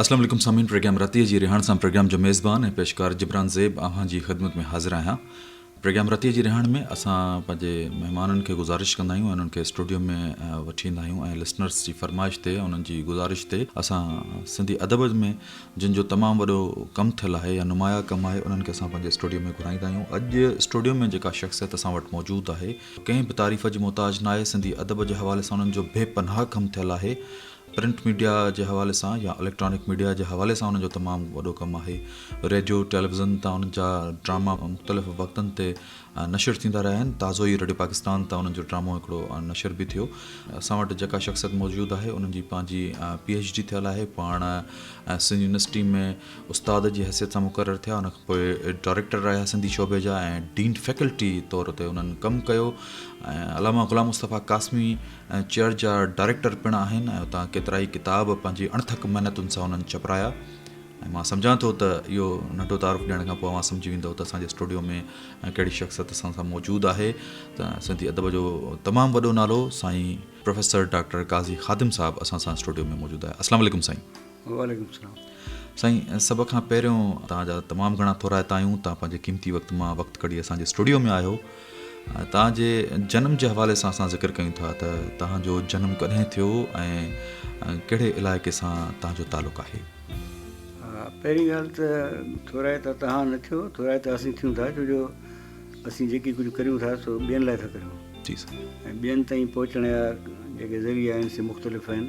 اسلام عليڪم سامعين پروگرام رتيء جي رهاڻ سان پروگرام جو ميزبان ۽ پيشڪار جبران زيب اوهان جي خدمت ۾ حاضر آهيان پروگرام رتيء جي رهاڻ ۾ اسان پنهنجي مهمانن کي گذارش ڪندا آهيون انهن کي اسٽوڊيو ۾ وٺي ايندا آهيون ۽ لسنرز جي فرمائش تي انهن جي گذارش تي اسان سنڌي ادب ۾ جن جو تمام وڏو ڪم ٿيل آهي يا نمايا ڪم آهي انهن کي اسان پنهنجي اسٽوڊيو ۾ گهرائيندا آهيون اڄ اسٽوڊيو ۾ جيڪا شخصيت اسان وٽ موجود آهي ڪنهن به تعريف جي محتاج ناهي سنڌي ادب جي حوالي سان انهن جو بي پناهه ڪم ٿيل آهي پرنٽ ميڊيا جي حوالي سان يا اليڪٽرانڪ ميڊيا جي حوالي سان انهن جو تمام وڏو ڪم آهي. ريڊيو ٽيليويزن تان انهن جا ڊراما مختلف وقتن تي نشر ٿيندا رهيا آهن. تازو ئي ريڊيو پاڪستان تان انهن جو ڊرامو هڪڙو نشر به ٿيو. اسان وٽ جيڪا شخصيت موجود آهي انهن جي پنهنجي پي ايڇ ڊي ٿيل آهي. پاڻ سنڌ يونيورسٽي ۾ استاد جي حيثيت سان مقرر ٿيا. ان کان پوء ڊائريڪٽر رهيا سنڌي شعبي جا ۽ ڊين فيڪلٽي طور تي انهن ڪم ڪيو ۽ علامه غلام مصطفيٰ قاسمي، ۽ چيئر جا ڊائريڪٽر پڻ آهن ۽ اتان ڪيترائي ڪتاب پنهنجي اڻٿڪ محنتن سان انهن ڇپرايا ۽ مان سمجهان ٿو ته اهو ننڍو تعارف ڏيڻ کان پوء اوهان سمجهي ويندؤ ته اسان جي اسٽوڊيو ۾ ڪهڙي شخصيت اسان سان موجود آهي ته سنڌي ادب جو تمام وڏو نالو سائين پروفيسر ڊاڪٽر قاضي خادم صاحب اسان سان اسٽوڊيو ۾ موجود آهي السلام عليڪم سائين وعليڪم السلام سائين سڀ کان پهريون توهان جا تمام گهڻا ٿورائتا آهيون توهان پنهنجي قيمتي وقت مان وقت ڪڍي اسان جي اسٽوڊيو ۾ آهيو توهان جي جنم جي حوالي سان اسان ذڪر ڪيون ٿا ته توهان جو جنم ڪڏهن ٿيو ۽ ڪهڙي علائقي سان توهان جو تعلق آهي پهرين ڳالهه ته ٿورائتا توهان نه ٿيو ٿورائتا اسين ٿيون ٿا ڇو جو اسين جيڪي ڪجهه ڪريون ٿا سو ٻين لاء ٿا ڪريون ۽ ٻين تائين پهچڻ جا جيڪي ذريعا آهن سي مختلف آهن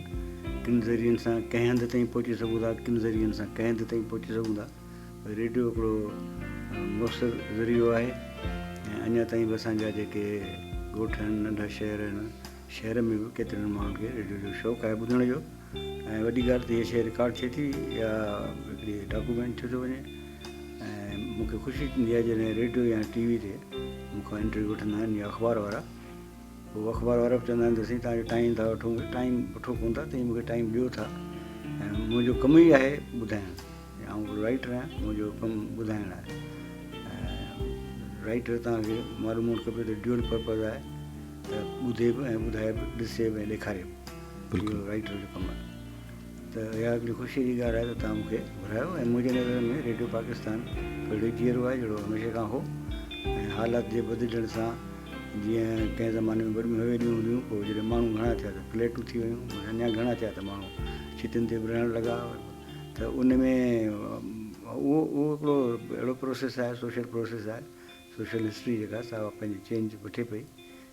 ڪن ذريعن سان ڪنهن هنڌ تائين پهچي سگهون ٿا ڪن ذريعن سان ڪنهن هنڌ تائين پهچي سگهون ٿا ريڊيو هڪڙو مؤثر ذريعو آهي ۽ اڃا تائين به اسان جا جيڪي ڳوٺ آهن ننڍا شهر آهن شهر ۾ به ڪيترن ماڻهن کي ريڊيو جو شوق آهي ٻڌڻ جو ۽ وڏي ڳالهه ته هي شيء رڪارڊ ٿئي ٿي يا هڪڙي ڊاڪومينٽ ٿيو ٿو وڃي ۽ مون کي خوشي ٿيندي آهي جڏهن ريڊيو يا ٽي وي تي مون کان انٽرويو وٺندا آهن يا اخبار وارا هو اخبار وارا به چوندا آهن ته سائين تهان جو ٽائيم ٿا وٺون ٽائيم وٺو ڪون ٿا تائين مون کي ٽائيم ڏيو ٿا ۽ منهنجو کم ئي آهي ٻڌائڻ آئون هڪڙو رائٽر آهيان منهنجو ڪم ٻڌائڻ آهي رائٽر تان کي معلوم هئڻ کپي ته ڊيول پرپز آهي ته ٻڌي به ۽ ٻڌائي به ڏسي به ڏيکاري به رائٽر جو ڪم آهي ته اها هڪڙي خوشيء جي ڳالهه آهي ته توهان مون کي گهرايو ۽ منهنجي نظرن ۾ ريڊيو پاڪستان اهڙو ئي جيئرو آهي جهڙو هميشه کان هو ۽ حالات جي بدلجڻ سان جيئن ڪنهن زماني ۾ وڏيون حويليون هونديون پوء جڏهن ماڻهو گهڻا ٿيا ته فليٽون ٿي ويون ۽ اڃا گهڻا ٿيا ته ماڻهو ڇتين تي به رهڻ لڳا ته ان ۾ اهو اهو هڪڙو اهڙو پروسيس آهي سوشل پروسيس آهي سوشل هسٽري جيڪا سا پنهنجي چينج وٺي پئي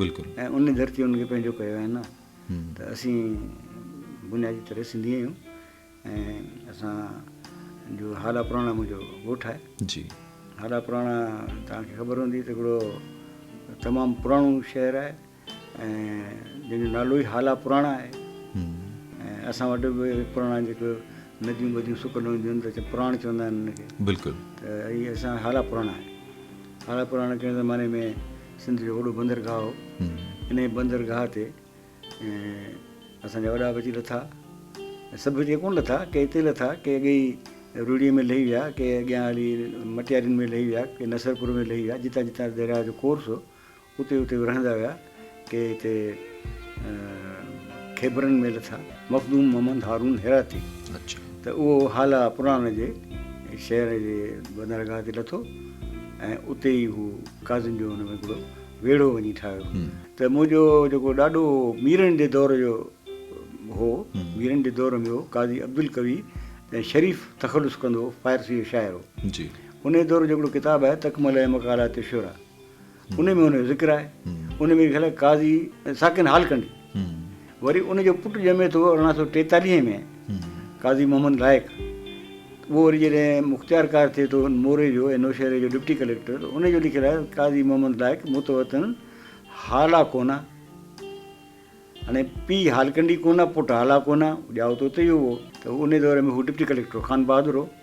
بلڪل. ۽ ان ڌرتي ان کي پنهنجو ڪيو آهي نه ته اسين بنيادي طرح سنڌي آهيون ۽ اسان جو هالا پراڻا منهنجو ڳوٺ آهي جي هالا پراڻا توهان کي خبر هوندي ته هڪڙو تمام پراڻو شهر آهي ۽ جنهن جو نالو ئي هالا پراڻا آهي ۽ اسان وٽ به پراڻا جيڪو نديون ٻديون سڪل هونديون آهن ته پراڻ چوندا آهن ان کي بلڪل ته هي اسان هالا پراڻا آهي هالا پراڻا چئڻ زماني ۾ سنڌ جو وڏو بندرگاهه هو. انهيء بندرگاهه تي اسان جا وڏا به اچي لٿا ۽ سڀ اچي ڪونه لٿا، ڪي اتي لٿا، ڪي اڳي ئي روهڙيء ۾ لهي ويا، ڪي اڳيان هلي مٽيارين ۾ لهي ويا، ڪي نصرپور ۾ لهي ويا، جتان جتان درياهه جو ڪورس هو، اتي اتي به رهندا ويا، ڪي هتي خيبرن ۾ لٿا. مخدوم محمد هارون هراتي ته اهو هالا پراڻ جي شهر جي بندرگاهه تي لٿو ۽ اتي ئي هو قاضين جو ان ۾ هڪڙو ويڙهو وڃي ٺاهيو ته منهنجو جيڪو ڏاڏو ميرن جي دور جو هو ميرن جي دور ۾ هو قاضي عبدالقوي ۽ شريف تخلص ڪندو فارسي جو شاعر هو ان دور جو هڪڙو ڪتاب آهي تڪمله مقالات شعرا انهي ۾ هن جو ذڪر آهي. انهي ۾ خيال آهي قاضي ساڪن حال ڪنڊي وري ان جو پٽ ڄمي ٿو ارڙهن سؤ ٽيتاليهه ۾ قاضي محمد لائق اهو وري جڏهن مختيار ڪار ٿئي ٿو موري جو ۽ نوشهري جو ڊپٽي ڪليڪٽر انهي جو لکيل آهي قاضي محمد لائق متوطن هالا ڪونه هاڻي پي هالڪنڊي ڪونه پٽ هالا ڪونه ڄائو ته اتي ئي هئو ته انهي دور ۾ هو ڊپٽي ڪليڪٽر هو خان بهادر هو.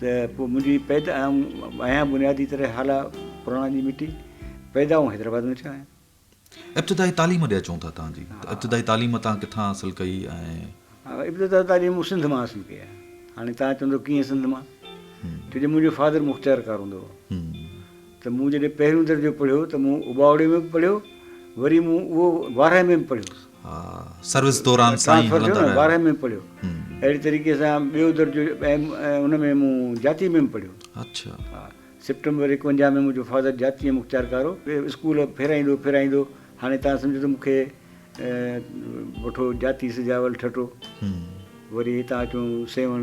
ته پوء منهنجي پيدا آهيان بنيادي طرح هالا پراڻا جي مٽي پيدا آئون حيدرآباد ۾ ٿيو آهيان. ابتدائي تعليم ڏي اچون ٿا تان جي ته ابتدائي تعليم تان ڪٿان حاصل ڪئي ۽. ابتدائي تعليم مون سنڌ مان حاصل ڪئي آهي هاڻي تان چوندو ڪيئن سنڌ مان ڇو جو منهنجو فادر مختيار ڪار هوندو هو ته مون جڏهن پهريون درجو پڙهيو ته مون اباوڙي ۾ به پڙهيو وري مون اهو وارهه ۾ به پڙهيو. سروس دوران سائين هلندا رهيا. ٽرانسفر ٿيو نه ٻارهين ۾ پڙهيو اهڙي طريقي سان ٻيو درجو ۽ ان ۾ مون جاتي ۾ به پڙهيو. اڇا. ها سيپٽمبر ايڪونجاهه ۾ منهنجو فادر جاتي ۾ مختيار ڪار هو. اسڪول ڦيرائيندو ڦيرائيندو هاڻي تان سمجهو ته مون کي وٺو جاتي سجاول ٺٽو وري هتان اچون سيوهڻ.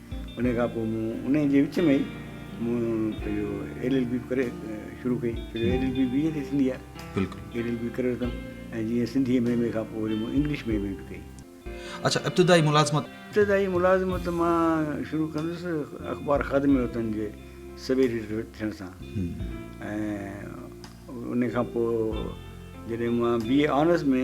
انهيء کان پوء مون انهيء جي وچ ۾ ئي مون پنهنجو ايل ايل بي به ڪري شروع ڪئي، ڇو جو L L B B A تي ٿيندي آهي. بلڪل. ايل ايل بي ڪري ورتم ۽ جيئن سنڌيء ۾ ايم اي کان پوء وري مون انگلش ۾ ايم اي به ڪئي. اڇا ابتدائي ملازمت؟ ابتدائي ملازمت مان شروع ڪندس اخبار خادم وطن جي سب ايڊيٽر ٿيڻ سان ۽ انهيء کان پوء جڏهن مان بي اي آنرس ۾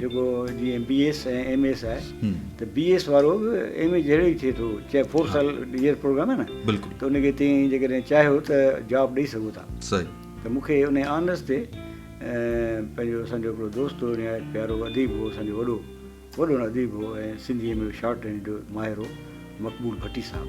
جيڪو جيئن بي ايس ۽ ايم ايس آهي ته بي ايس وارو به ايم اي جهڙو ئي ٿئي ٿو چاهي فور سال يير پروگرام آهي نه ته ان کي تيئن جيڪڏهن چاهيو ته جاب ڏئي سگهو ٿا ته مون کي ان آنرس تي پنهنجو اسان جو هڪڙو دوست هو نهايت پيارو اديب هو اسان جو وڏو وڏو اديب هو ۽ سنڌيء ۾ شارٽ هينڊ جو ماهر هو مقبول ڀٽي صاحب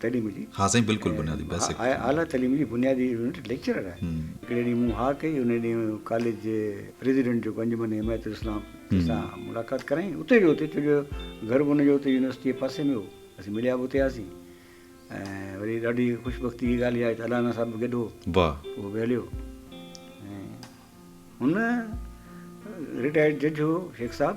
تعليم جي. ها سائين بلڪل بنيادي بيسڪ. آء اعليٰ تعليم جي بنيادي يونٽ ليڪچرر آهي. هڪڙي ڏينهن مون ها ڪئي ان ڏينهن ڪاليج جي پريزيڊنٽ جيڪو انجمن حمايت الاسلام تن سان ملاقات ڪرايائين اتي جو اتي ڇو جو گهر به ان جو اتي يونيورسٽي جي پاسي ۾ هو اسين مليا به اتي هئاسين ۽ وري ڏاڍي خوشبختي جي ڳالهه اها آهي ته الانا صاحب به گڏ هو اهو به هليو ۽ هن رٽائرڊ جج هو شيخ صاحب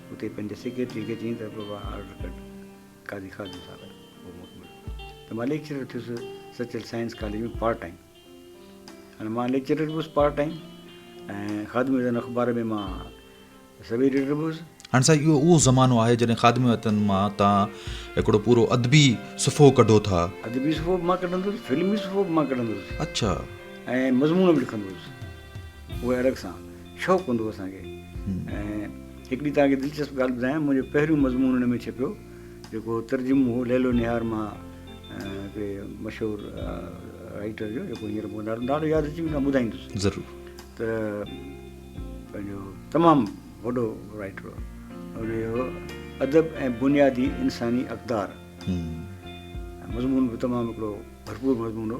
اتي پنهنجي سيڪريٽري کي چيائين ته بابا آرڊر ڪڍ قاضي خادم صاحب جو اهو موقعو مليو ته مان ليڪچرر ٿيس Sachal science college ۾ part time هاڻي مان ليڪچرر به هوس پارٽ ٽائيم ۽ خادم وطن اخبار ۾ مان سب ايڊيٽر به هوس هاڻي سائين اهو اهو زمانو آهي جڏهن خادم وطن مان تان هڪڙو پورو ادبي صفحو ڪڍو ٿا ادبي صفحو به مان ڪڍندو هوس فلمي صفحو به مان ڪڍندو هوس اڇا ۽ مضمون به لکندو هوس اهي الڳ سان شوق هوندو هو اسان کي ۽ هڪ ڏينهن توهان کي دلچسپ ڳالهه ٻڌايان منهنجو پهريون مضمون ان ۾ ڇپيو جيڪو ترجمو هو ليل و نهار مان هڪڙي مشهور رائيٽر جو جيڪو هينئر مون نالو نالو ياد اچي ويندو ٻڌائيندس ضرور ته پنهنجو تمام وڏو رائيٽر هو ان جو ادب ۽ بنيادي انساني اقدار مضمون به تمام هڪڙو ڀرپور مضمون هو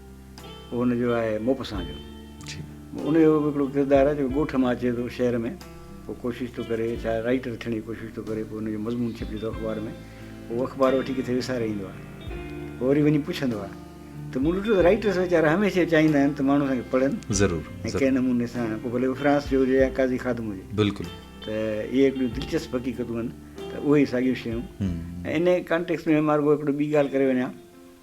اهو ان جو آهي موپسان جو ان جو به هڪڙو ڪردار آهي جيڪو ڳوٺ مان اچي ٿو شهر ۾ پوء ڪوشش ٿو ڪري ڇا رائٽر ٿيڻ جي ڪوشش ٿو ڪري پوء ان جو مضمون ڇپجي ٿو اخبار ۾ هو اخبار وٺي ڪٿي وساري ايندو آهي پوء وري وڃي پڇندو آهي ته مون ڏٺو ته رائٽرس ويچارا هميشه چاهيندا آهن ته ماڻهو اسان کي پڙهن ضرور ۽ ڪنهن نموني سان پوء ڀلي فرانس جو هجي يا قاضي خادم هجي بلڪل ته اهي هڪڙيون دلچسپ حقيقتون آهن ته اهي ساڳيون شيون ۽ ان ڪانٽيڪس ۾ مارگو هڪڙو ٻي ڳالهه ڪري وڃان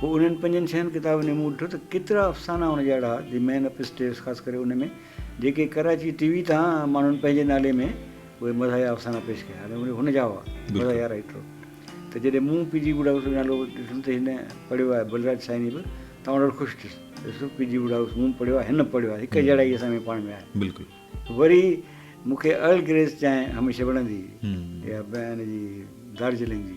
پوء انهن پنجن ڇهن ڪتابن ۾ مون ڏٺو ته ڪيترا افسانا هن جا اهڙا هئا دي مين اپ اسٽيئرس خاص ڪري ان ۾ جيڪي ڪراچي ٽي وي تان ماڻهن پنهنجي نالي ۾ اهي مزاحيه افسانا پيش ڪيا هئا اهي هن جا هئا مزاحيه رائيٽر هو ته جڏهن مون پي جي ووڊ هائوس جو نالو ڏٺم ته هن پڙهيو آهي بلراج سائني به تمام ڏاڍو خوش ٿيس ڏس پي جي ووڊ هائوس مون پڙهيو آهي هن پڙهيو آهي هڪ جهڙائي اسان ۾ پاڻ ۾ آهي بلڪل وري مون کي ارل گريس چانهه هميشه وڻندي هئي يا ان جي دارجلنگ جي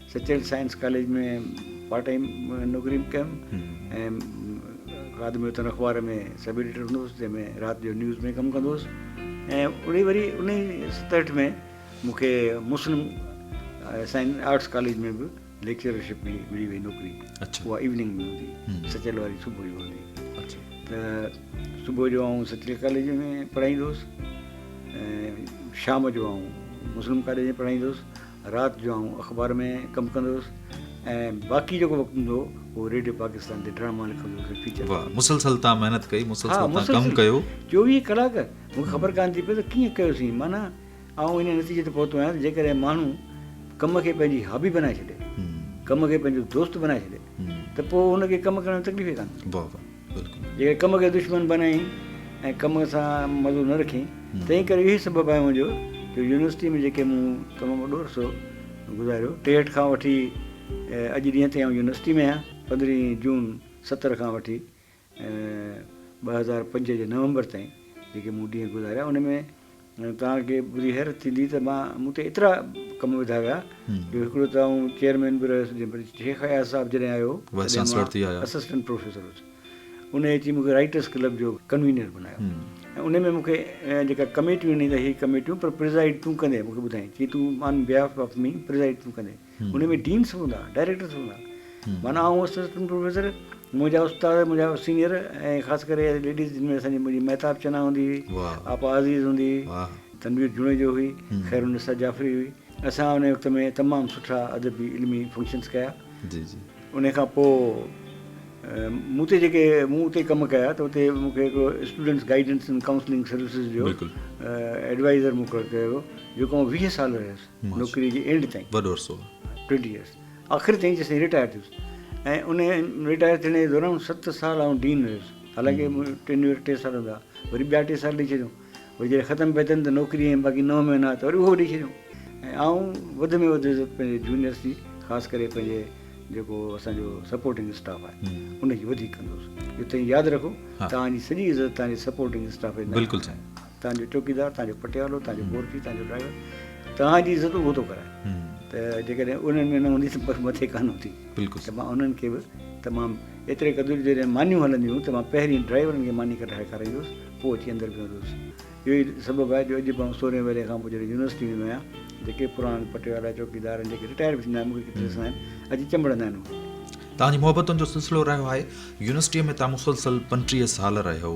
Sachal science college ۾ part time نوڪري به ڪيم ۽ خادم وطن اخبار ۾ سب ايڊيٽر هوندو هوس جنهن ۾ رات جو نيوز ۾ ڪم ڪندو هوس ۽ اڙي وري ان ئي ستهٺ ۾ مون کي مسلم سائنس آرٽس ڪاليج ۾ به ليڪچرشپ ملي ملي وئي نوڪري اها ايوننگ ۾ هوندي سچل واري صبح جو هوندي ته صبح جو آئون سچل ڪاليج ۾ پڙهائيندو هوس شام جو آئون مسلم ڪاليج ۾ پڙهائيندو هوس رات جو آئون اخبار ۾ ڪم ڪندو هيس ۽ باقي جيڪو وقت هوندو هو اهو ريڊيو پاڪستان تي ڊراما لکندو هيس ۽ فيچر. واهه مسلسل تان محنت ڪئي مسلسل ها تان مسلسل ڪم ڪيو. چوويهه ڪلاڪ مون کي خبر ڪانه ٿي پئي ته ڪيئن ڪيوسين معنيٰ آئون ان نتيجي تي پهتو آهيان ته جيڪڏهن ماڻهو ڪم کي پنهنجي هابي بنائي ڇڏي ڪم کي پنهنجو دوست بنائي ڇڏي ته پوء ان کي ڪم ڪرڻ ۾ تڪليف ئي ڪانه ٿيندي. واهه واهه. جيڪي ڪم کي دشمن بنائين ۽ ڪم سان مزو نه رکين، تنهن ڪري اهوئي سبب آهي منهنجو جو يونيورسٽيء ۾ جيڪي مون تمام وڏو عرصو گذاريو، ٽيهٺ کان وٺي اڄ ڏينهن تائين آئون يونيورسٽيء ۾ آهيان. پندرهين جون ستر کان وٺي ٻه هزار پنج جي نومبر تائين جيڪي مون ڏينهن گذاريا، ان ۾. توهان کي ٻڌي حيرت ٿيندي ته مان مون تي ايترا ڪم وڌا ويا جو هڪڙو ته آئون چيئرمين به رهيس جنهن پر شيخ اياز صاحب جڏهن آيو تڏهن مان اسسٽنٽ پروفيسر هوس انهي اچي مون کي رائيٽرس ڪلب جو ڪنوينر بنايو ۽ انهي ۾ مون کي جيڪا ڪميٽيون ڏني ته هي ڪميٽيون پر پرزائيڊ تون ڪندين مون کي ٻڌائين چي تون آن بيهاف آف مي پرزائيڊ تون ڪندين ان ۾ ڊينس هوندا، ڊائريڪٽرس هوندا، معنيٰ آئون هوس اسسٽنٽ پروفيسر، منهنجا استاد، منهنجا سينئر ۽ خاص ڪري ليڊيز جن ۾ اسانجي منهنجي مهتاب چنا هوندي هئي، آپا عزيز هوندي هئي، تنوير جوڻيجو هئي، خيرالنساء جعفري هئي. اسان انهيء وقت ۾ تمام سٺا ادبي علمي فنڪشنس ڪيا. انهيء کان پوء مون تي جيڪي مون اتي ڪم ڪيا ته اتي مون کي هڪڙو students guidance and counselling services جو ايڊوائيزر مقرر ڪيو ويو، جيڪو آئون ويهه سال رهيس. نوڪريء جي اينڊ تائين وڏو عرصو ٽوئنٽي ايئرس آخر تائين جيسين رٽائر ٿيس ۽ ان رٽائر ٿيڻ جي دوران ست سال آئون ڊين رهيس حالانڪه ٽينيور ٽي سال هوندا وري ٻيا ٽي سال ڏيئي ڇڏيو وري جڏهن ختم پئي ٿين ته نوڪري ۽ باقي نو مهينا ته وري اهو ڏيئي ڇڏيو ۽ آئون وڌ ۾ وڌ عزت پنهنجي جونيئرس جي خاص ڪري پنهنجي جيڪو اسان جو سپورٽنگ اسٽاف آهي ان جي وڌيڪ ڪندو هوس اهو تائين ياد رکو توهان جي سڄي عزت توهان جي سپورٽنگ اسٽاف جي بلڪل سائين توهان جو چوڪيدار، توهان جو پٽيوالو، توهان جو بورچي، توهان جو ڊرائيور توهان جي عزت اهو ٿو ڪرائي ته جيڪڏهن انهن ۾ نه هوندي ته بس مٿي ڪانه هوندي ته مان انهن کي به تمام ايتري قدر جڏهن مانيون هلنديون هيون ته مان پهرين ڊرائيورن کي ماني ڪڍرائي کارائيندو هوس پوء اچي اندر ويهندو هوس اهو ئي سبب آهي جو اڄ به آئون سورهين ورهين کان پوء جڏهن يونيورسٽي ويندو آهيان جيڪي پراڻا پٽيوالا چوڪيدار آهن جيڪي رٽائر به ٿيندا آهن مون کي ڏسندا آهن اچي چنبڙندا آهن مون کي توهان جي محبتن جو سلسلو رهيو آهي يونيورسٽيء ۾ توهان مسلسل پنٽيهه سال رهيو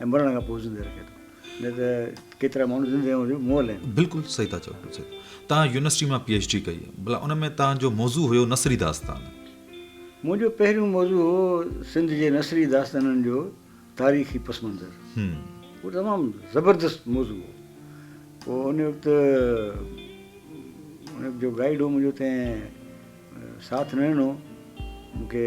۽ مرڻ کان پوء زندهه رکي ٿو نه ته ڪيترا ماڻهو زندهه هئڻ جو مئل آهن. بلڪل صحيح ٿا چئو ڊاڪٽر صاحب توهان يونيورسٽي مان پي ايڇ ڊي ڪئي بلا ان ۾ توهان جو موضوع هيو نثري داستان. منهنجو پهريون موضوع هو سنڌ جي نثري داستانن جو تاريخي پس منظر اهو تمام زبردست موضوع هو پوء ان وقت ان وقت جو گائيڊ هو منهنجو تنهن ساٿ نه ڏنو مون کي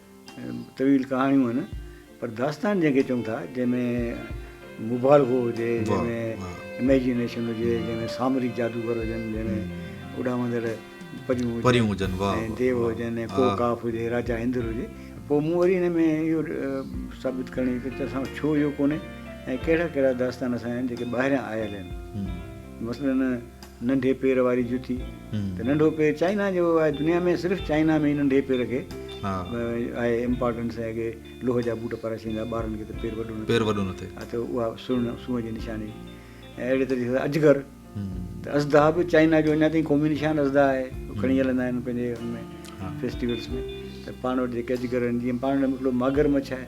طويل ڪهاڻيون آهن پر داستان جنهن کي چئون ٿا جنهن ۾ مبالغو هجي جنهن ۾ اميجنيشن هجي جنهن ۾ سامري جادوگر هجن جنهن ۾ اڏامندڙ پريون هجن ۽ ديو هجن ۽ ڪو ڪاف هجي راجا اندر هجي پوء مون وري هن ۾ اهو ثابت ڪرڻ جي ته اسان ڇو اهو ڪونهي ۽ ڪهڙا ڪهڙا داستان اسان جا آهن جيڪي ٻاهريان آيل آهن مثلاً ننڍي پير واري جتي ته ننڍو پير چائنا جو آهي دنيا ۾ صرف چائنا ۾ ننڍي پير کي آهي امپارٽنس ۽ اڳي لوهه جا بوٽ پارا ڇيندا ٻارن کي ته پير وڏو نه پير وڏو نه ٿئي ها ته اها سن سون جي نشاني ۽ اهڙي طريقي سان اجگر ته ازدا به چائنا جو اڃا تائين قومي نشان ازدا آهي کڻي هلندا آهن پنهنجي ان ۾ فيسٽيولس ۾ ته پاڻ وٽ جيڪي اجگر آهن جيئن پاڻ وٽ هڪڙو ماگر مڇ آهي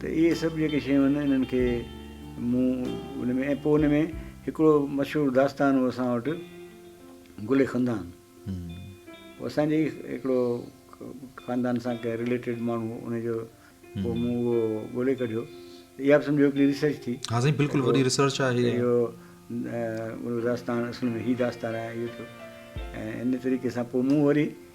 ته اهي سڀ جيڪي شيون آهن انهن کي مون ان ۾ ۽ پوء ان ۾ هڪڙو مشهور داستان هو اسان وٽ گل خندان هو اسان جي هڪڙو خاندان سان ڪنهن رليٽيڊ ماڻهو هو ان جو پوء مون اهو ڳولي ڪڍيو اها به سمجهو هڪڙي ريسرچ ٿي ها سائين بلڪل وڏي ريسرچ آهي اهو داستان اصل ۾ هي داستان آهي اهو ٿيو ۽ ان طريقي سان پوء مون وري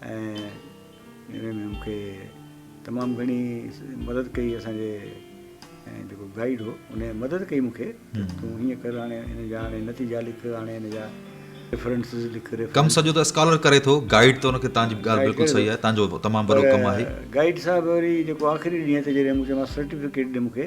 ۽ ان ۾ مونکي تمام گهڻي مدد ڪئي اسان جي جيڪو گائيڊ هو ان مدد ڪئي مونکي تون هيئن ڪر هاڻي ان جا هاڻي نتيجا لک هاڻي ان جا ريفرنسز لک ڪم سڄو ته اسڪالر ڪري ٿو گائيڊ ته ان کي تان جي ڳالهه بلڪل صحيح آهي تان جو تمام وڏو ڪم آهي گائيڊ صاحب وري جيڪو آخري ڏينهن تي جڏهن مون چيو مانس سرٽيفڪيٽ ڏي مونکي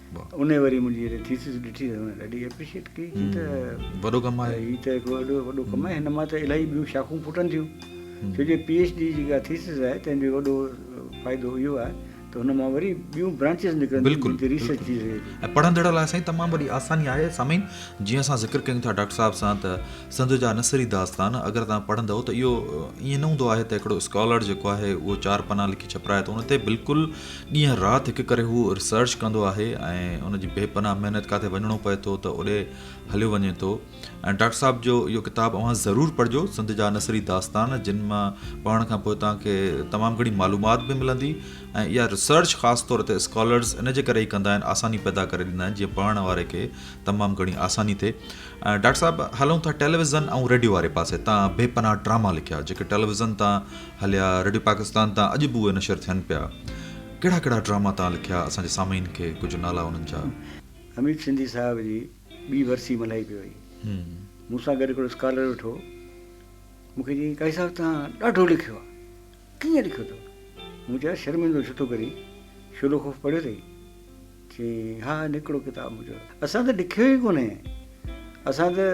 انهي وري منهنجي جڏهن ٿيسز ڏٺي ته هن ڏاڍي ايپريشيٽ ڪئي چي ته وڏو ڪم آهي هي ته هڪڙو ايڏو وڏو ڪم آهي هن مان ته الاهي ٻيون شاخون ڦٽن ٿيون ڇو جي پي ايڇ ڊي جيڪا ٿيسز آهي تنهن جو وڏو فائدو اهو آهي ته هن مان وري ٻيون برانچز نڪرن ٿيون جتي ريسرچ ٿي سگهي ٿي ۽ پڙهندڙ لاء سائين تمام وڏي آساني آهي سامعين جيئن اسان ذڪر ڪيون ٿا ڊاڪٽر صاحب سان ته سنڌ جا نثري داستان اگر توهان پڙهندؤ ته اهو ائين نه هوندو آهي ته هڪڙو اسڪالر جيڪو آهي اهو چار پنا لکي ڇپرائي ٿو ان تي بلڪل ڏينهن رات هڪ ڪري هو ريسرچ ڪندو آهي ۽ ان جي بي پناهه محنت ڪاٿي وڃڻو پئي ٿو ته اوڏي هليو وڃي ٿو ۽ ڊاڪٽر صاحب جو اهو ڪتاب اوهان ضرور پڙهجو سنڌ جا نثري داستان جن مان پڙهڻ کان پوء توهان کي تمام گهڻي معلومات به ملندي ۽ اها ريسرچ خاص طور تي اسڪالرز ان جي ڪري ئي ڪندا آهن آساني پيدا ڪري ڏيندا آهن جيئن پڙهڻ واري کي تمام گهڻي آساني ٿئي ڊاڪٽر صاحب هلون ٿا ٽيليويزن ۽ ريڊيو واري پاسي تان بي پناهه ڊراما لکيا جيڪي ٽيليويزن تان هليا ريڊيو پاڪستان تان اڄ به اهي نشر ٿين پيا ڪهڙا ڪهڙا ڊراما تان لکيا اسان جي سامعين کي ڪجهه نالا انهن جا. حميد سنڌي صاحب جي ٻي ورسي ملهائي پئي وئي مون سان گڏ هڪڙو اسڪالر ويٺو مون کي چيائين قاضي صاحب توهان ڏاڍو لکيو آ ڪيئن لکيو اٿو مون چيو يار شرمندو ڇو ٿو ڪرين شعلو خوف پڙهيو اٿئي چيائين، ها نڪڙو ڪتاب منهنجو. اسان ته ڏکيو ئي ڪونهي. اسان ته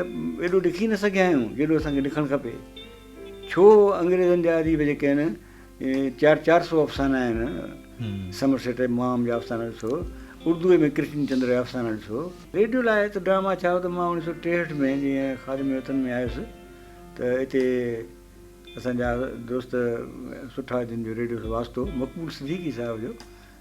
ايڏو ڏکي نه سگهيا آهيون، جيڏو اسان کي ڏکڻ کپي. ڇو انگريزن جا اديب جيڪي آهن، چار چار سؤ افسانا آهن، سمرسيٽ ۽ مئام جا افسانا ڏسو، اردوء ۾ ڪرشن چندر جا افسانا ڏسو. ريڊيو لاء ته ڊراما ڇا، هو ته مان اوڻيهه سؤ ٽيهٺ ۾ جيئن خادم وطن ۾ آيس ته اتي اسان جا دوست سٺا جن جو ريڊيو سان واسطو هو، مقبول صديقي صاحب جو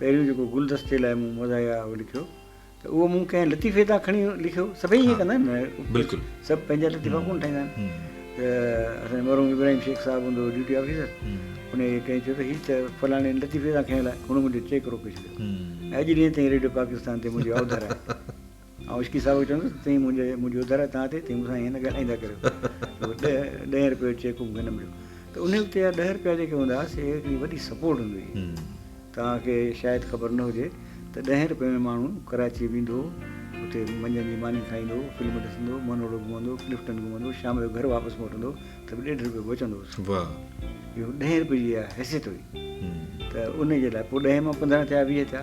پهريون جيڪو گلدستي لاء مون مزاحيه اهو لکيو ته اهو مون ڪنهن لطيفي تان کڻي لکيو، سڀئي ائين ڪندا آهن نه، سڀ پنهنجا لطيفا ڪونه ٺاهيندا آهن ته اسان جو مرحوم ابراهيم شيخ صاحب هوندو هو ڊيوٽي آفيسر، انهيء کي ڪنهن چيو ته هي ته فلاڻي لطيفي تان کنيل آهي، هن منهنجو چيڪ روڪي ڇڏيو ۽ اڄ ڏينهن تائين ريڊيو پاڪستان تي منهنجي اوڌر آهي. آئون عشقي صاحب کي چوندس ته تون منهنجي منهنجي اڌر هٿان تي تون مون سان ائين نه ڳالهائيندا ڪريو ته ڏهه ڏهين رپيو جو چيڪ هو مون کي نه مليو ته ان وقت جا ڏهه رپيا جيڪي هوندا هئا سي هڪڙي وڏي سپورٽ هوندي هئي توهان کي شايد خبر نه هجي ته ڏهين رپئي ۾ ماڻهو ڪراچي ويندو هو اتي منجهند جي ماني کائيندو هو فلم ڏسندو هو مونروڊ گهمندو ڪلفٽن گهمندو شام جو گهر واپس موٽندو ته به ڏيڍ رپيو بچندو هوس اهو ڏهين رپئي جي اها حيثيت هئي ته ان جي لاء پوء ڏهين مان پندرهن ٿيا ويهه ٿيا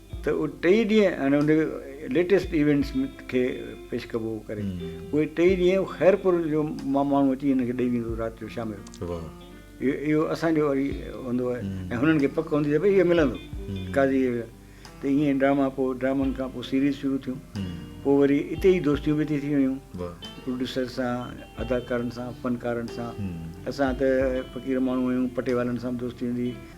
ته اهي ٽئي ڏينهن يعني ان جي ليٽيسٽ ايونٽس کي پيش ڪبو هو ڪري اهي ٽئي ڏينهن خيرپور جو ماڻهو اچي هن کي ڏئي ويندو رات جو شام جو اهو اسان جو وري هوندو آهي ۽ هنن کي پڪ هوندي ته ڀئي اهو ملندو قاضي ته ائين ڊراما پوء ڊرامن کان پوء سيريز شروع ٿيون پوء وري اتي ئي دوستيون به ٿي ويون پروڊيوسر سان اداڪارن سان فنڪارن سان اسان ته فقير ماڻهو آهيون پٽي والن سان به دوستي هوندي هئي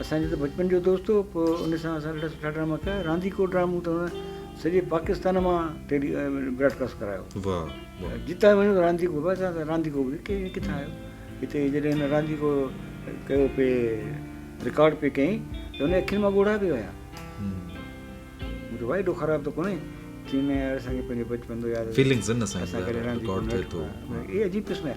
اسان جو ته بچپن جو دوست هو پوء ان سان اسان اهڙا سٺا ڊراما ڪيا رانديڪو ڊرامو ته هن سڄي پاڪستان مان ٽيلي براڊ ڪاسٽ ڪرايو واهه واهه جتان وڃو رانديڪو بس اسان سان رانديڪو به ڪي ڪٿان آيو هتي جڏهن هن رانديڪو ڪيو پي رڪارڊ پي ڪئين ته هن اکين مان ڳوڙها پي وهيا مون چيو وائي ڏو خراب ته ڪونهي چين اسان کي پنهنجو بچپن ٿو ياد فيلنگز ان سان ڪڏهن رانديڪو نه ٿيو اهي عجيب قسم جا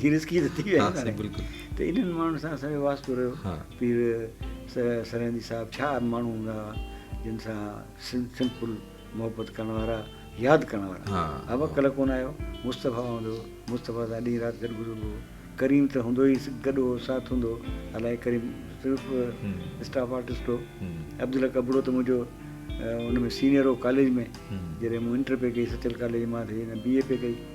جي رسڪي ته ٿي ويا آهن بلڪل ته انهن ماڻهن سان اسان جو واسطو رهيو پير سرهندي صاحب ڇا ماڻهو هوندا هئا جن سان سمپل محبت ڪرڻ وارا ياد ڪرڻ وارا ابا ڪل ڪون آيو مصطفيٰ هوندو هو مصطفيٰ سان ڏينهن رات گڏ گذربو هو ڪريم ته هوندو ئي گڏ هو ساٿ هوندو هو الائي ڪريم صرف اسٽاف آرٽسٽ هو عبدالحق ابڙو ته منهنجو ان ۾ سينئر هو ڪاليج ۾ جڏهن مون انٽر پئي ڪئي سچل ڪاليج مان ٿي بي اي پئي ڪئي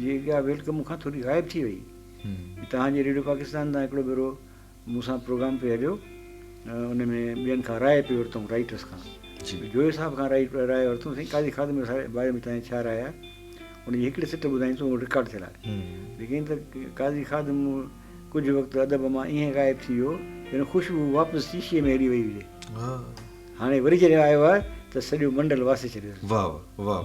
جي اها ويلڪم مون کان ٿوري غائب ٿي وئي. توهان جي ريڊيو پاڪستان تان هڪڙو ڀيرو مون سان پروگرام پئي هليو ان ۾ ٻين کان راء پئي ورتائون رائيٽرس کان جويو صاحب کان راء ورتائون سائين قاضي خادم جي باري ۾ تنهنجي ڇا راء آهي ان جي هڪڙي سٽ ٻڌائين ته اهو رڪارڊ ٿيل آهي ليڪن ته قاضي خادم ڪجهه وقت ادب مان ائين غائب ٿي ويو جن خوشبو واپس شيشي ۾ هلي وئي هجي هاڻي وري جڏهن آيو آهي ته سڄو منڊل واسي ڇڏيو واهه واهه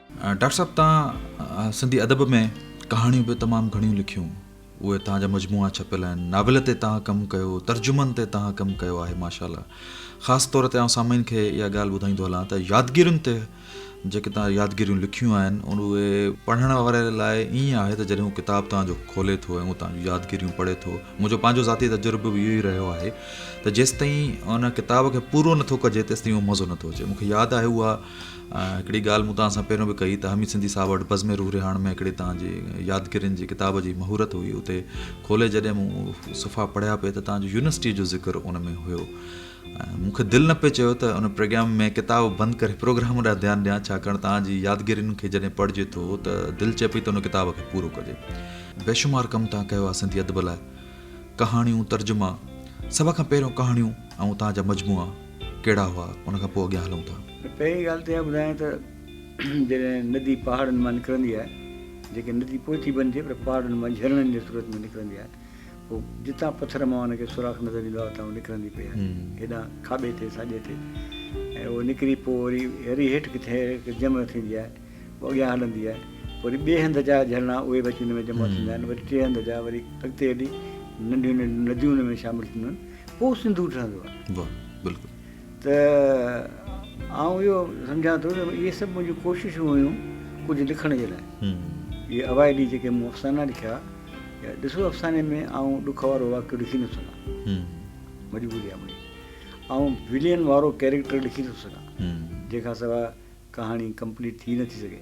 ڊاڪٽر صاحب توهان سنڌي ادب ۾ ڪهاڻيون به تمام گهڻيون لکيون اهي توهان جا مجموعا ڇپيل آهن ناول تي توهان ڪم ڪيو ترجمن تي توهان ڪم ڪيو آهي ماشاءالله خاص طور تي آئون سامعين کي اها ڳالهه ٻڌائيندو هلان ته يادگيرين تي جيڪي توهان يادگيريون لکيون آهن اهي پڙهڻ واري لاء ائين آهي ته جڏهن هو ڪتاب توهان جو کولي ٿو ۽ هو توهان جون يادگيريون پڙهي ٿو منهنجو پنهنجو ذاتي تجربو به اهو ئي رهيو آهي ته جيستائين ان ڪتاب کي پورو نٿو ڪجي تيستائين اهو مزو نٿو اچي مونکي ياد آهي اها هڪڙي ڳالهه مون توهان سان پهريون به ڪئي ته حميد سنڌي صاحب وٽ بزم روح رهاڻ ۾ هڪڙي توهان جي يادگيرين جي ڪتاب جي مهورت هئي اتي کولي جڏهن مون صفحا پڙهيا پئي ته توهان جو يونيورسٽي جو ذڪر ان ۾ هيو مون کي دل نه پئي چيو ته ان پروگرام ۾ ڪتاب بند ڪري پروگرام ڏانهن ڌيان ڏيان ڇاڪاڻ توهان جي يادگيرين کي جڏهن پڙهجي ٿو ته دل چئي پئي ته ان ڪتاب کي پورو ڪجي بيشمار ڪم توهان ڪيو آهي سنڌي ادب لاء ڪهاڻيون ترجما سڀ کان پهريون ڪهاڻيون ۽ توهان جا مجموعا ڪهڙا هئا، ان کان پوء اڳيان هلون ٿا. پهرين ڳالهه ته اها ٻڌايان ته جڏهن ندي پهاڙن مان نڪرندي آهي، جيڪي ندي پوء ٿي بنجي پر پهاڙن مان جهرڻن جي صورت ۾ نڪرندي آهي، پوء جتان پٿر مان ان کي سوراخ نظر ايندو آهي، اتان هوء نڪرندي پئي آهي، هيڏانهن کاٻي تي، ساڄي تي ۽ اهو نڪري پوء وري وري هيٺ ڪٿي هڪ جمع ٿيندي آهي، پوء اڳيان هلندي آهي، پوء وري ٻئي هنڌ جا جهرڻا اهي به اچي ان ۾ جمع ٿيندا آهن، وري ٽئين هنڌ جا، وري اڳتي هلي ننڍيون ننڍيون نديون ان ۾ شامل ٿينديون آهن. پوء سنڌو ٺهندو آهي. واهه بلڪل. ته آئون اهو سمجهان ٿو ته اهي سڀ منهنجون ڪوششون هيون ڪجهه لکڻ جي لاء. اهي اوائلي جيڪي مون افسانا لکيا يا ڏسو افساني ۾ آئون ڏک وارو واقعو لکي نٿو سگهان مجبوري آهي منهنجي. آئون ولين وارو ڪيريڪٽر لکي نٿو سگهان جنهن کان سواء ڪهاڻي ڪمپليٽ ٿي نٿي سگهي.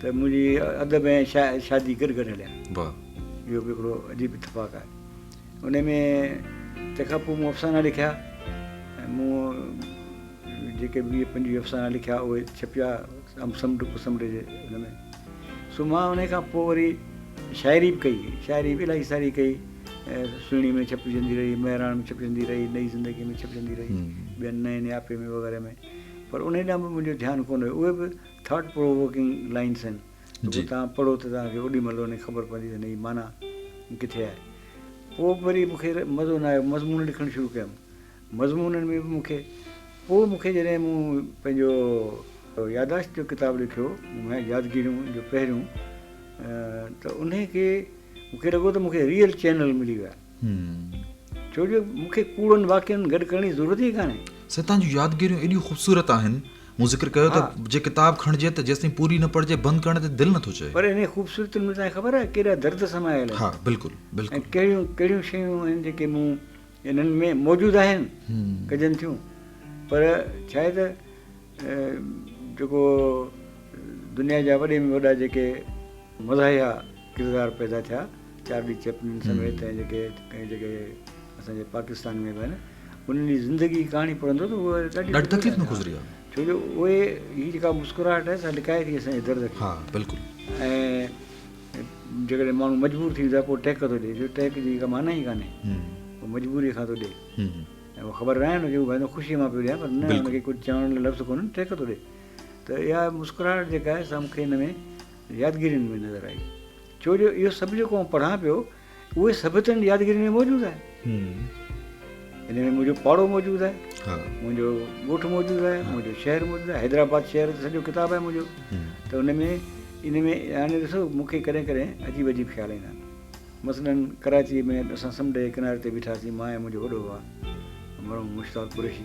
ته منهنجي ادب ۽ شادي گڏ گڏ هليا. اهو به هڪڙو عجيب اتفاق آهي. انهي ۾ تنهن کان پوء مون افسانا لکيا ۽ مون جيڪي ويهه پنجويهه افسانا لکيا اهي ڇپيا ام سمنڊ ڪو سمنڊ جي ان ۾ سو مان انهي کان پوء وري شاعري به ڪئي شاعري به الاهي ساري ڪئي سهڻي ۾ ڇپجندي رهي مهراڻ ۾ ڇپجندي رهي نئي زندگي ۾ ڇپجندي رهي ٻين نئين نياپي ۾ وغيره ۾ پر انهي ڏانهن به منهنجو ڌيان ڪونه ويو اهي به ٿاٽ پرووڪنگ لائنس آهن ته پوء توهان پڙهو ته توهان کي اوڏي مهل انهي خبر پوندي ته هن جي معنيٰ ڪٿي آهي. پوء به وري مون کي مزو نه آيو مضمون لکڻ شروع ڪيم مضمونن ۾ به مون کي پوء مون کي جڏهن مون پنهنجو ياداشت جو ڪتاب لکيو مهيا يادگيريون جو پهريون ته انهي کي مون کي لڳو ته مون کي ريئل چينل ملي ويا. ڇو جو مون کي ڪوڙن واقعن گڏ ڪرڻ جي ضرورت ئي ڪانهي. سائين توهان جون يادگيريون ايڏيون خوبصورت آهن، مون ذڪر ڪيو ته جي ڪتاب کڻجي ته جيستائين پوري نه پڙهجي بند ڪرڻ تي دل نٿو چئي. پر انهن خوبصورتين ۾ توهان کي خبر آهي ڪيڏا درد سمايل آهن. ها بلڪل بلڪل. ۽ ڪهڙيون ڪهڙيون شيون آهن جيڪي مون انهن ۾ موجود آهن ڪجن ٿيون پر ڇا آهي ته جيڪو دنيا جا وڏي ۾ وڏا جيڪي مزاحيه ڪردار پيدا ٿيا، چارلي چيپلن سميت ۽ جيڪي ڪنهن جيڪي اسان جي پاڪستان ۾ به آهن انهن جي زندگي جي ڪهاڻي پڙهندو ته هو ڏاڍي تڪليف ۾ گذري ويو ڇو جو اهي هي جيڪا مسڪراهٽ آهي سا لڪائي ٿي اسان جي درد کي ها بلڪل ۽ جيڪڏهن ماڻهو مجبور ٿي ويندو آهي پوء ٽهڪ ٿو ڏي جو ٽهڪ جي ڪا معنيٰ ئي ڪانهي هو مجبوري کان ٿو ڏي ۽ هو خبر ناهي ان کي هو ڀائندا خوشي مان پيو ڏيان پر نه ان کي ڪجهه چوڻ لاء لفظ ڪونهن ٽهڪ ٿو ڏي ته اها مسڪراهٽ جيڪا آهي سا مون کي ان ۾ يادگيرين ۾ نظر آئي ڇو جو اهو سڀ جيڪو آئون پڙهان پيو اهي سڀ تن جي يادگيرين ۾ موجود آهي ان ۾ منهنجو پاڙو موجود آهي منهنجو ڳوٺ موجود آهي منهنجو شهر موجود آهي حيدرآباد شهر سڄو ڪتاب آهي منهنجو ته ان ۾ ان ۾ هاڻي ڏسو مون کي ڪڏهن ڪڏهن عجيب عجيب خيال ايندا آهن مثلاً ڪراچي ۾ اسان سمنڊ جي ڪناري تي بيٺاسين مان ۽ منهنجو وڏو ڀاء مرحوم مشتاق قريشي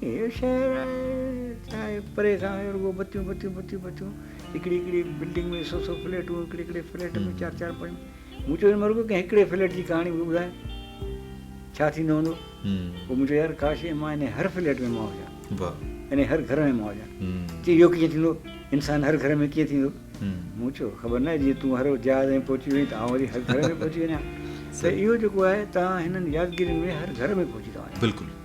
هي شهر آهي ڇا آهي پري کان آهي رڳو بتيون بتيون بتيون بتيون هڪڙي هڪڙي بلڊنگ ۾ سو سو فليٽون هڪڙي هڪڙي فليٽ ۾ چار چار پنج مون چيو مون رڳو ڪنهن هڪڙي فليٽ جي ڪهاڻي به ٻڌاء ڇا ٿيندو هوندو پوء مون چيو يار ڪاش مان ان هر فليٽ ۾ مان هجان ان هر گهر ۾ مان هجان چي اهو ڪيئن ٿيندو انسان هر گهر ۾ ڪيئن ٿيندو مون چيو خبر ناهي جيئن تون هر جهاز ۾ پهچي وئين ته آئون وري هر گهر ۾ پهچي وڃان ته اهو جيڪو آهي تان هنن يادگيرين ۾ هر گهر ۾ پهچي ٿا وڃو بلڪل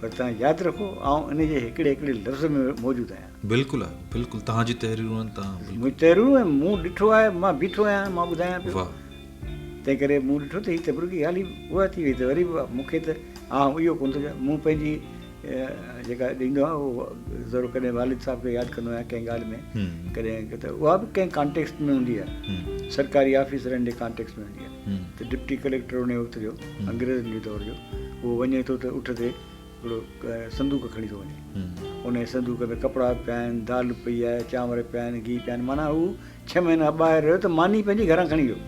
پر توهان ياد رکو آئون انهي جي هڪڙي هڪڙي لفظ ۾ موجود آهيان. بلڪل آهي بلڪل توهان جي تحريرون آهن توهان بلڪل. منهنجي تحريرون آهن مون ڏٺو آهي مان بيٺو آهيان مان ٻڌايان پيو واهه. تنهن ڪري مون ڏٺو ته هي تبرڪي ڳالهه ئي اها ٿي وئي ته وري به مون کي ته آئون اهو ڪونه ٿو چوان مون پنهنجي جيڪا ڏيندو آهيان اهو ضرور ڪڏهن والد صاحب کي ياد ڪندو آهيان ڪنهن ڳالهه ۾ ڪڏهن ته اها به ڪنهن ڪانٽيڪسٽ ۾ هوندي آهي سرڪاري آفيسرن جي ڪانٽيڪسٽ ۾ هوندي آهي. ته ڊپٽي ڪليڪٽر انهيء وقت جو، انگريزن جي دور جو، اهو وڃي ٿو ته اٺ تي هڪڙو صندوق کڻي ٿو وڃي. انهيء صندوق ۾ ڪپڙا به پيا آهن، دال پئي آهي، چانور پيا آهن، گيهه پيا آهن، معنيٰ هو ڇهه مهينا ٻاهر رهيو ته ماني پنهنجي گهران کڻي ويو.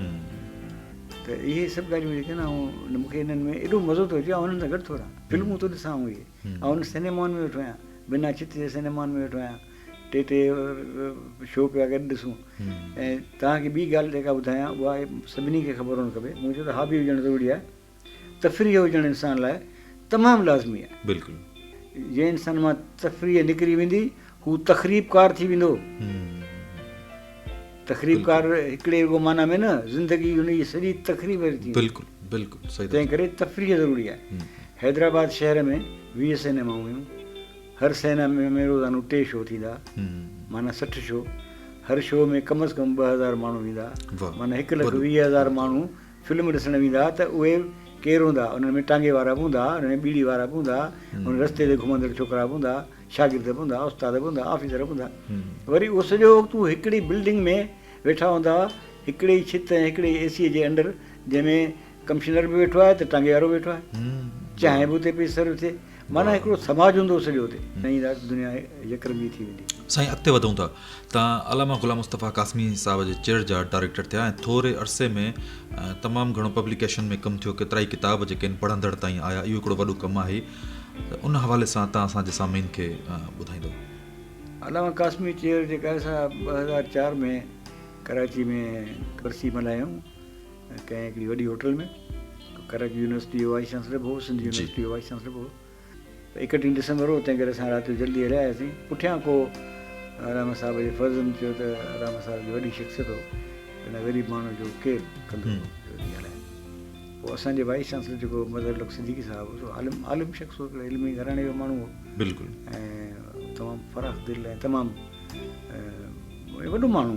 ته اهي سڀ ڳالهيون جيڪي آهن آئون مون کي انهن ۾ ايڏو مزو ٿو اچي آئون انهن سان گڏ ٿو رهان. فلمون ٿو ڏسان آئون اهي. آئون سئنيمان ۾ ويٺو آهيان، بنا ڇت جي سئنيمان ۾ ويٺو آهيان. ٽي ٽي شو پيا گڏ ڏسون ۽ توهان کي ٻي ڳالهه جيڪا ٻڌايان اها سڀني کي خبر هئڻ کپي مون چيو ته هابي هجڻ ضروري آهي تفريح هجڻ انسان لاء تمام لازمي آهي بلڪل جنهن انسان مان تفريح نڪري ويندي هو تخريبڪار ٿي ويندو تخريبڪار هڪڙي رڳو معنيٰ ۾ نه زندگي هن جي سڄي تخريب ٿي بلڪل بلڪل تنهن ڪري تفريح ضروري آهي حيدرآباد شهر ۾ ويهه سينيما هيون هر سينا ۾ روزانو ٽي شو ٿيندا معنيٰ سٺ شو هر شو ۾ ڪم از ڪم ٻه هزار ماڻهو ويندا معنيٰ هڪ لک ويهه هزار ماڻهو فلم ڏسڻ ويندا ته اهي ڪير هوندا انهن ۾ ٽانگي وارا به هوندا انهن ۾ ٻيڙي وارا به هوندا انهن رستي تي گهمندڙ ڇوڪرا به هوندا شاگرد به هوندا استاد به هوندا آفيسر به هوندا وري اهو سڄو وقت هو هڪڙي بلڊنگ ۾ ويٺا هوندا هڪڙي ئي ڇت ۽ هڪڙي ئي اي سي جي انڊر جنهن ۾ ڪمشنر به ويٺو آهي ته ٽانگيوارو به ويٺو آهي چانهه به اتي پئي سرو ٿئي معنيٰ هڪڙو سماج هوندو سڄو اتي ۽ دنيا يڪ رنگي ٿي ويندي. سائين اڳتي وڌون ٿا ته علامه غلام مصطفيٰ قاسمي صاحب جي چيڙ جا ڊائريڪٽر ٿيا ۽ ٿوري عرصي ۾ تمام گهڻو پبليڪيشن ۾ ڪم ٿيو ڪيترائي ڪتاب جيڪي ان پڙهندڙ تائين آيا اهو هڪڙو وڏو ڪم آهي ته ان حوالي سان تان اسان جي سامعين کي ٻڌائيندو. علامه قاسمي چيڙ جيڪا آهي سا ٻه هزار چار ۾ ڪراچي ۾ ورسي ملهايائون. ڪنهن هڪڙي وڏي هوٽل ۾ ڪرڪ يونيورسٽي جو وائيس چانسلر به هو سنڌ يونيورسٽي جو وائيس چانسلر به هو اڪٽيهه ڊسمبر هو تنهن ڪري اسان رات جو جلدي هليا آياسين پٺيان ڪو علامه صاحب جي فرزند چيو ته علامه صاحب جي وڏي شخصيت هو هن غريب ماڻهو جو ڪير ڪندو پوء اسان جي وائيس چانسلر جيڪو مظهر لڪ صديقي صاحب هو سو عالم عالم شخص هو هڪڙو علمي گهراڻي جو ماڻهو هو بلڪل ۽ تمام فراخ دل ۽ تمام وڏو ماڻهو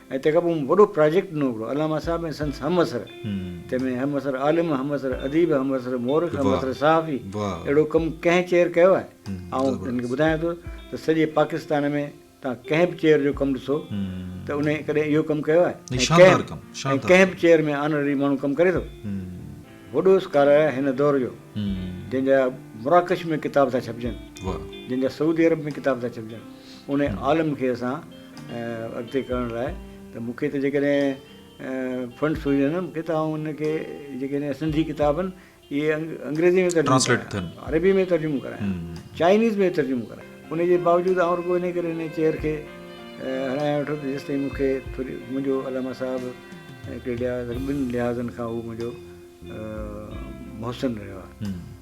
۽ تنهن کان پوء مون وڏو پراجيڪٽ ڏنو هڪڙو علامه صاحب ۽ سندس همعصر تنهن ۾ همعصر عالم همعصر اديب همعصر مورخ همعصر صحافي اهڙو ڪم ڪنهن چيئر ڪيو آهي آئون هن کي ٻڌايان ٿو ته سڄي پاڪستان ۾ توهان ڪنهن به چيئر جو ڪم ڏسو ته انهي ڪڏهن اهو ڪم ڪيو آهي ۽ ڪنهن به چيئر ۾ آنرري ماڻهو ڪم ڪري ٿو وڏو اسڪالر آهي هن دور جو جنهن جا مراڪش ۾ ڪتاب ٿا ڇپجن جنهن جا سعودي عرب ۾ ڪتاب ٿا ڇپجن انهي عالم کي اسان اڳتي ڪرڻ لاء ته مون کي ته جيڪڏهن فنڊس هجن ها مون کي ته آئون ان کي جيڪڏهن سنڌي ڪتابن اهي انگريزي ۾ ترجمو ڪرايان عربي ۾ ترجمو ڪرايان چائنيز ۾ ترجمو ڪرايان ان جي باوجود آئون رڳو ان ڪري ان چيئر کي هلايان ويٺو ته جيسين تائين مون کي ٿوري منهنجو علامه صاحب هڪڙي لحاظ ٻن لحاظن کان هو منهنجو محسن رهيو آهي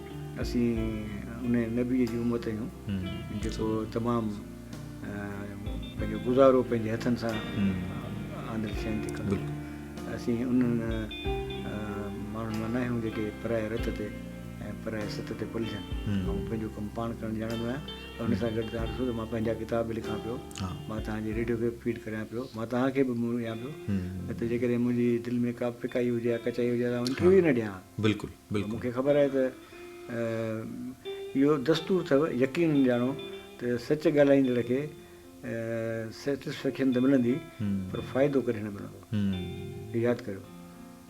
اسين ان نبيء جي امت آهيون جيڪو تمام پنهنجو گذارو پنهنجي هٿن سان آندل شين تي ڪندو اسين انهن ماڻهن مان ناهيون جيڪي پرائي رت تي ۽ پرائي ست تي پلجن آئون پنهنجو ڪم پاڻ ڪرڻ ڄاڻندو آهيان پر ان سان گڏ تان ڏسو ته مان پنهنجا ڪتاب به لکان پيو مان تان جي ريڊيو کي فيڊ ڪريان پيو مان تان کي به منهن ڏيان پيو نه ته جيڪڏهن منهنجي دل ۾ ڪا فڪائي هجي يا ڪچائي هجي ته آئون انٽرويو نه ڏيان بلڪل مون کي خبر آهي ته اهو دستور اٿئو، يقينن ڄاڻو ته سچ ڳالهائيندڙ کي Satisfaction ته ملندي پر فائدو ڪڏهن نه ملندو. ياد ڪريو.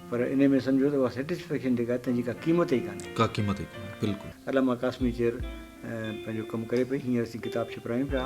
پر انهي ۾ سمجهو ته اها Satisfaction جيڪا آهي تنهن جي ڪا قيمت ئي ڪانهي. ڪا قيمت ئي ڪانهي. بلڪل. علامه قاسمي چيئر پنهنجو ڪم ڪري پئي. هينئر اسين ڪتاب ڇپرايون پيا.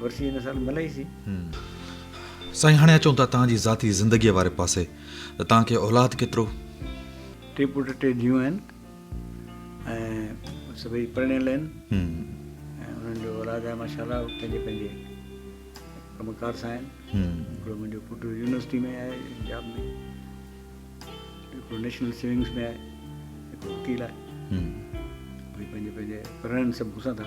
ورسي هن سال ملئي سي. سائين هاڻي اچون ٿا توهان جي ذاتي زندگيء واري پاسي ته توهان کي اولاد ڪيترو؟ ٽي پٽ ٽي ڌيون آهن ۽ سڀئي پرڻيل آهن ۽ انهن جو اولاد آهي ماشاء الله پنهنجي پنهنجي ڪم ڪار سان آهن هڪڙو منهنجو پٽ يونيورسٽي ۾ آهي جاب ۾ هڪڙو نيشنل سيونگس ۾ آهي هڪڙو وڪيل آهي پنهنجي پنهنجي پرڻن سڀ پوسان ٿا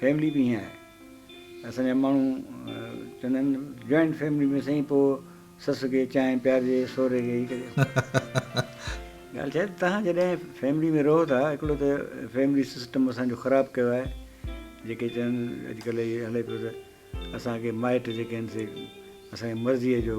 فيملي به ائين آهي اسان جا ماڻهو چوندا آهن جوائنٽ فيملي ۾ سائين پوء سس کي چانهه پيارجي سهري کي هي ڪجي ڳالهه ڇا آهي تهان جڏهن فيملي ۾ رهو ٿا هڪڙو ته فيملي سسٽم اسان جو خراب ڪيو آهي جيڪي چون اڄڪلهه هي هلي پيو ته اسان کي مائٽ جيڪي آهن سي اسان جي مرضيء جو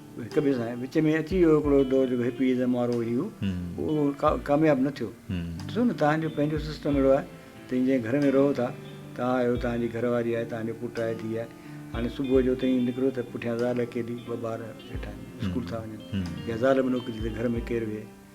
هڪ ٻئي سان وچ ۾ اچي ويو هڪڙو دور جيڪو هپيزم وارو هيو اهو ڪامياب نه ٿيو ڏسو نه توهان جو پنهنجو سسٽم اهڙو آهي ته ان جي گهر ۾ رهو ٿا توهان آهيو توهان جي گهر واري آهي توهان جو پٽ آهي ڌيء آهي هاڻي صبح جو تئين نڪرو ته پٺيان زال اڪيلي ٻه ٻار ويٺا آهن اسڪول ٿا وڃن يا زال به نوڪري ته گهر ۾ ڪير ويهي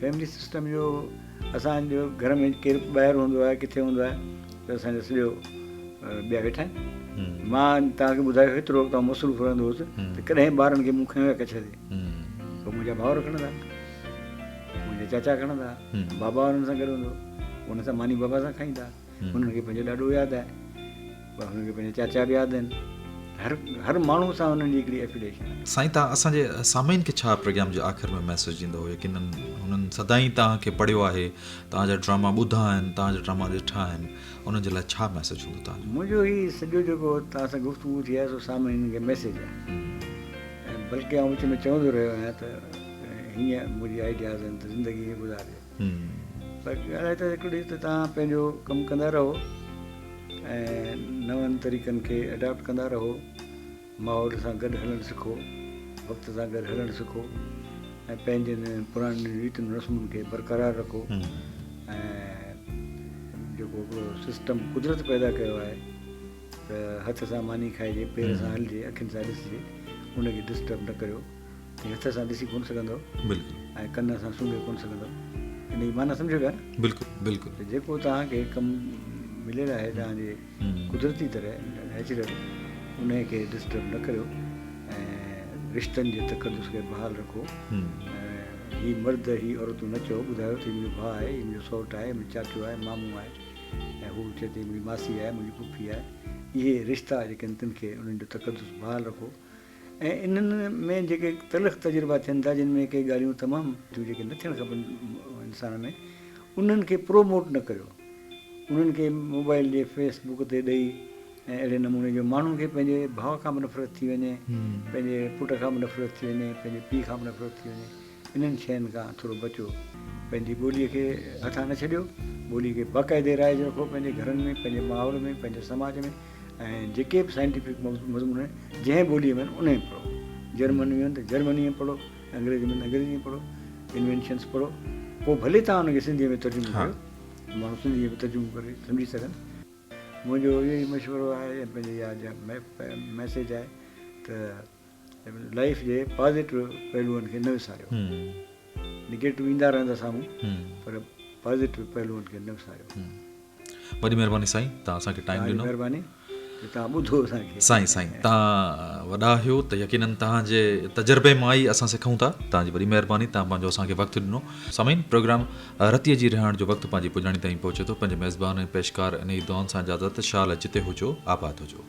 فيملي سسٽم جو اسان جو گهر ۾ ڪير ٻاهر هوندو آهي ڪٿي هوندو آهي ته اسان جو سڄو ٻيا ويٺا آهن مان توهان کي ٻڌايو هيترو وقت مصروف رهندو هوس ته ڪڏهن ٻارن کي مون کڻيو ڪڇ تي پوء منهنجا ڀاؤر کڻندا منهنجا چاچا کڻندا بابا انهن سان گڏ هوندو انهن سان ماني بابا سان کائيندا هنن کي پنهنجو ڏاڏو ياد آهي، هنن کي پنهنجا چاچا به ياد آهن، هر هر ماڻهو سان هنن جي هڪڙي افيليشن آهي. سائين تان اسان جي سامعين کي ڇا پروگرام جي آخر ۾ ميسيج ڏيندو يقينن هنن سدائين تان کي پڙهيو آهي تان جا ڊراما ٻڌا آهن تان جا ڊراما ڏٺا آهن انهن جي لاء ڇا ميسيج هوندو تان جو. منهنجو هي سڄو جيڪو تان سان گفتگو ٿي آهي سو سامعين کي ميسيج آهي ۽ بلڪه آئون وچ ۾ چوندو رهيو آهيان ته هيئن منهنجي آئيڊياز آهن ته زندگي هيئن گذارجي. پر ڳالهه ته هڪڙي ته توهان پنهنجو ڪم ڪندا رهو ۽ نون طريقن کي اڊاپٽ ڪندا رهو ماحول سان گڏ هلڻ سکو وقت سان گڏ هلڻ سکو ۽ پنهنجن پراڻين ريتن رسمن کي برقرار رکو ۽ جيڪو سسٽم قدرت پيدا ڪيو آهي ته هٿ سان ماني کائجي پير سان هلجي اکين سان ڏسجي ان کي ڊسٽرب نه ڪريو هي هٿ سان ڏسي ڪونه سگهندو بلڪل ۽ ڪن سان سونگهي ڪونه سگهندو ان جي معنيٰ سمجهو پيا نه بلڪل بلڪل ته جيڪو توهان کي ڪم مليل آهي توهان جي قدرتي طرح نيچرل ان کي ڊسٽرب نه ڪريو ۽ رشتن جي تقدس کي بحال رکو هي مرد هي عورتون نه چئو ٻڌايو ته هي منهنجو ڀاء آهي هي منهنجو سوٽ آهي منهنجو چاچو آهي مامو آهي ۽ هو چئي ٿي منهنجي ماسي آهي منهنجي پڦي آهي اهي رشتا جيڪي آهن تن کي انهن جو تقدس بحال رکو ۽ انهن ۾ جيڪي تلخ تجربا ٿين ٿا جن ۾ ڪي ڳالهيون تمام ٿيون جيڪي نه ٿيڻ کپن انسان ۾ انهن کي پرو موٽ نه ڪريو انهن کي موبائل جي فيس بوڪ تي ڏئي ۽ اهڙي نموني جو ماڻهن کي پنهنجي ڀاء کان به نفرت ٿي وڃي پنهنجي پٽ کان به نفرت ٿي وڃي پنهنجي پيء کان به نفرت ٿي وڃي انهن شين کان ٿورو بچو. پنهنجي ٻوليء کي هٿان نه ڇڏيو. ٻوليء کي باقاعدي رائج رکو پنهنجي گهرن ۾، پنهنجي ماحول ۾، پنهنجي سماج ۾، ۽ جيڪي به سائنٽيفڪ مضمون آهن، جنهن ٻوليء ۾ آهن، انهي ۾ پڙهو. جرمن ۾ آهن ته جرمنيء ۾ پڙهو، انگريزيء ۾ آهن ته انگريزيء ۾ پڙهو، Inventions پڙهو. پوء ڀلي توهان ان کي سنڌيء ۾ ترجمو ڪريو ته ماڻهو سنڌيء ۾ ترجمو ڪري سمجهي سگهن. منهنجو اهو ئي مشورو آهي ۽ پنهنجي اها ميسيج آهي ته. لائيف جي پازيٽو پهلوئن کي نه وساريو نيگيٽو ايندا رهندا سامهون پر پازيٽو پهلوئن کي نه وساريو وڏي مهرباني سائين تان اسان کي ٽائيم ڏنو مهرباني تان ٻڌو اسان کي سائين سائين تان وڏا آهيو ته يقينا تان جي تجربي مان ئي اسان سکون ٿا تان جي وڏي مهرباني تان پنهنجو اسان کي وقت ڏنو سامين پروگرام رتي جي رهائڻ جو وقت پنهنجي پڄاڻي تائين پهچي ٿو پنهنجي ميزبان ۽ پيشڪار انهي دعائن سان اجازت شال جتي هجو آباد هجو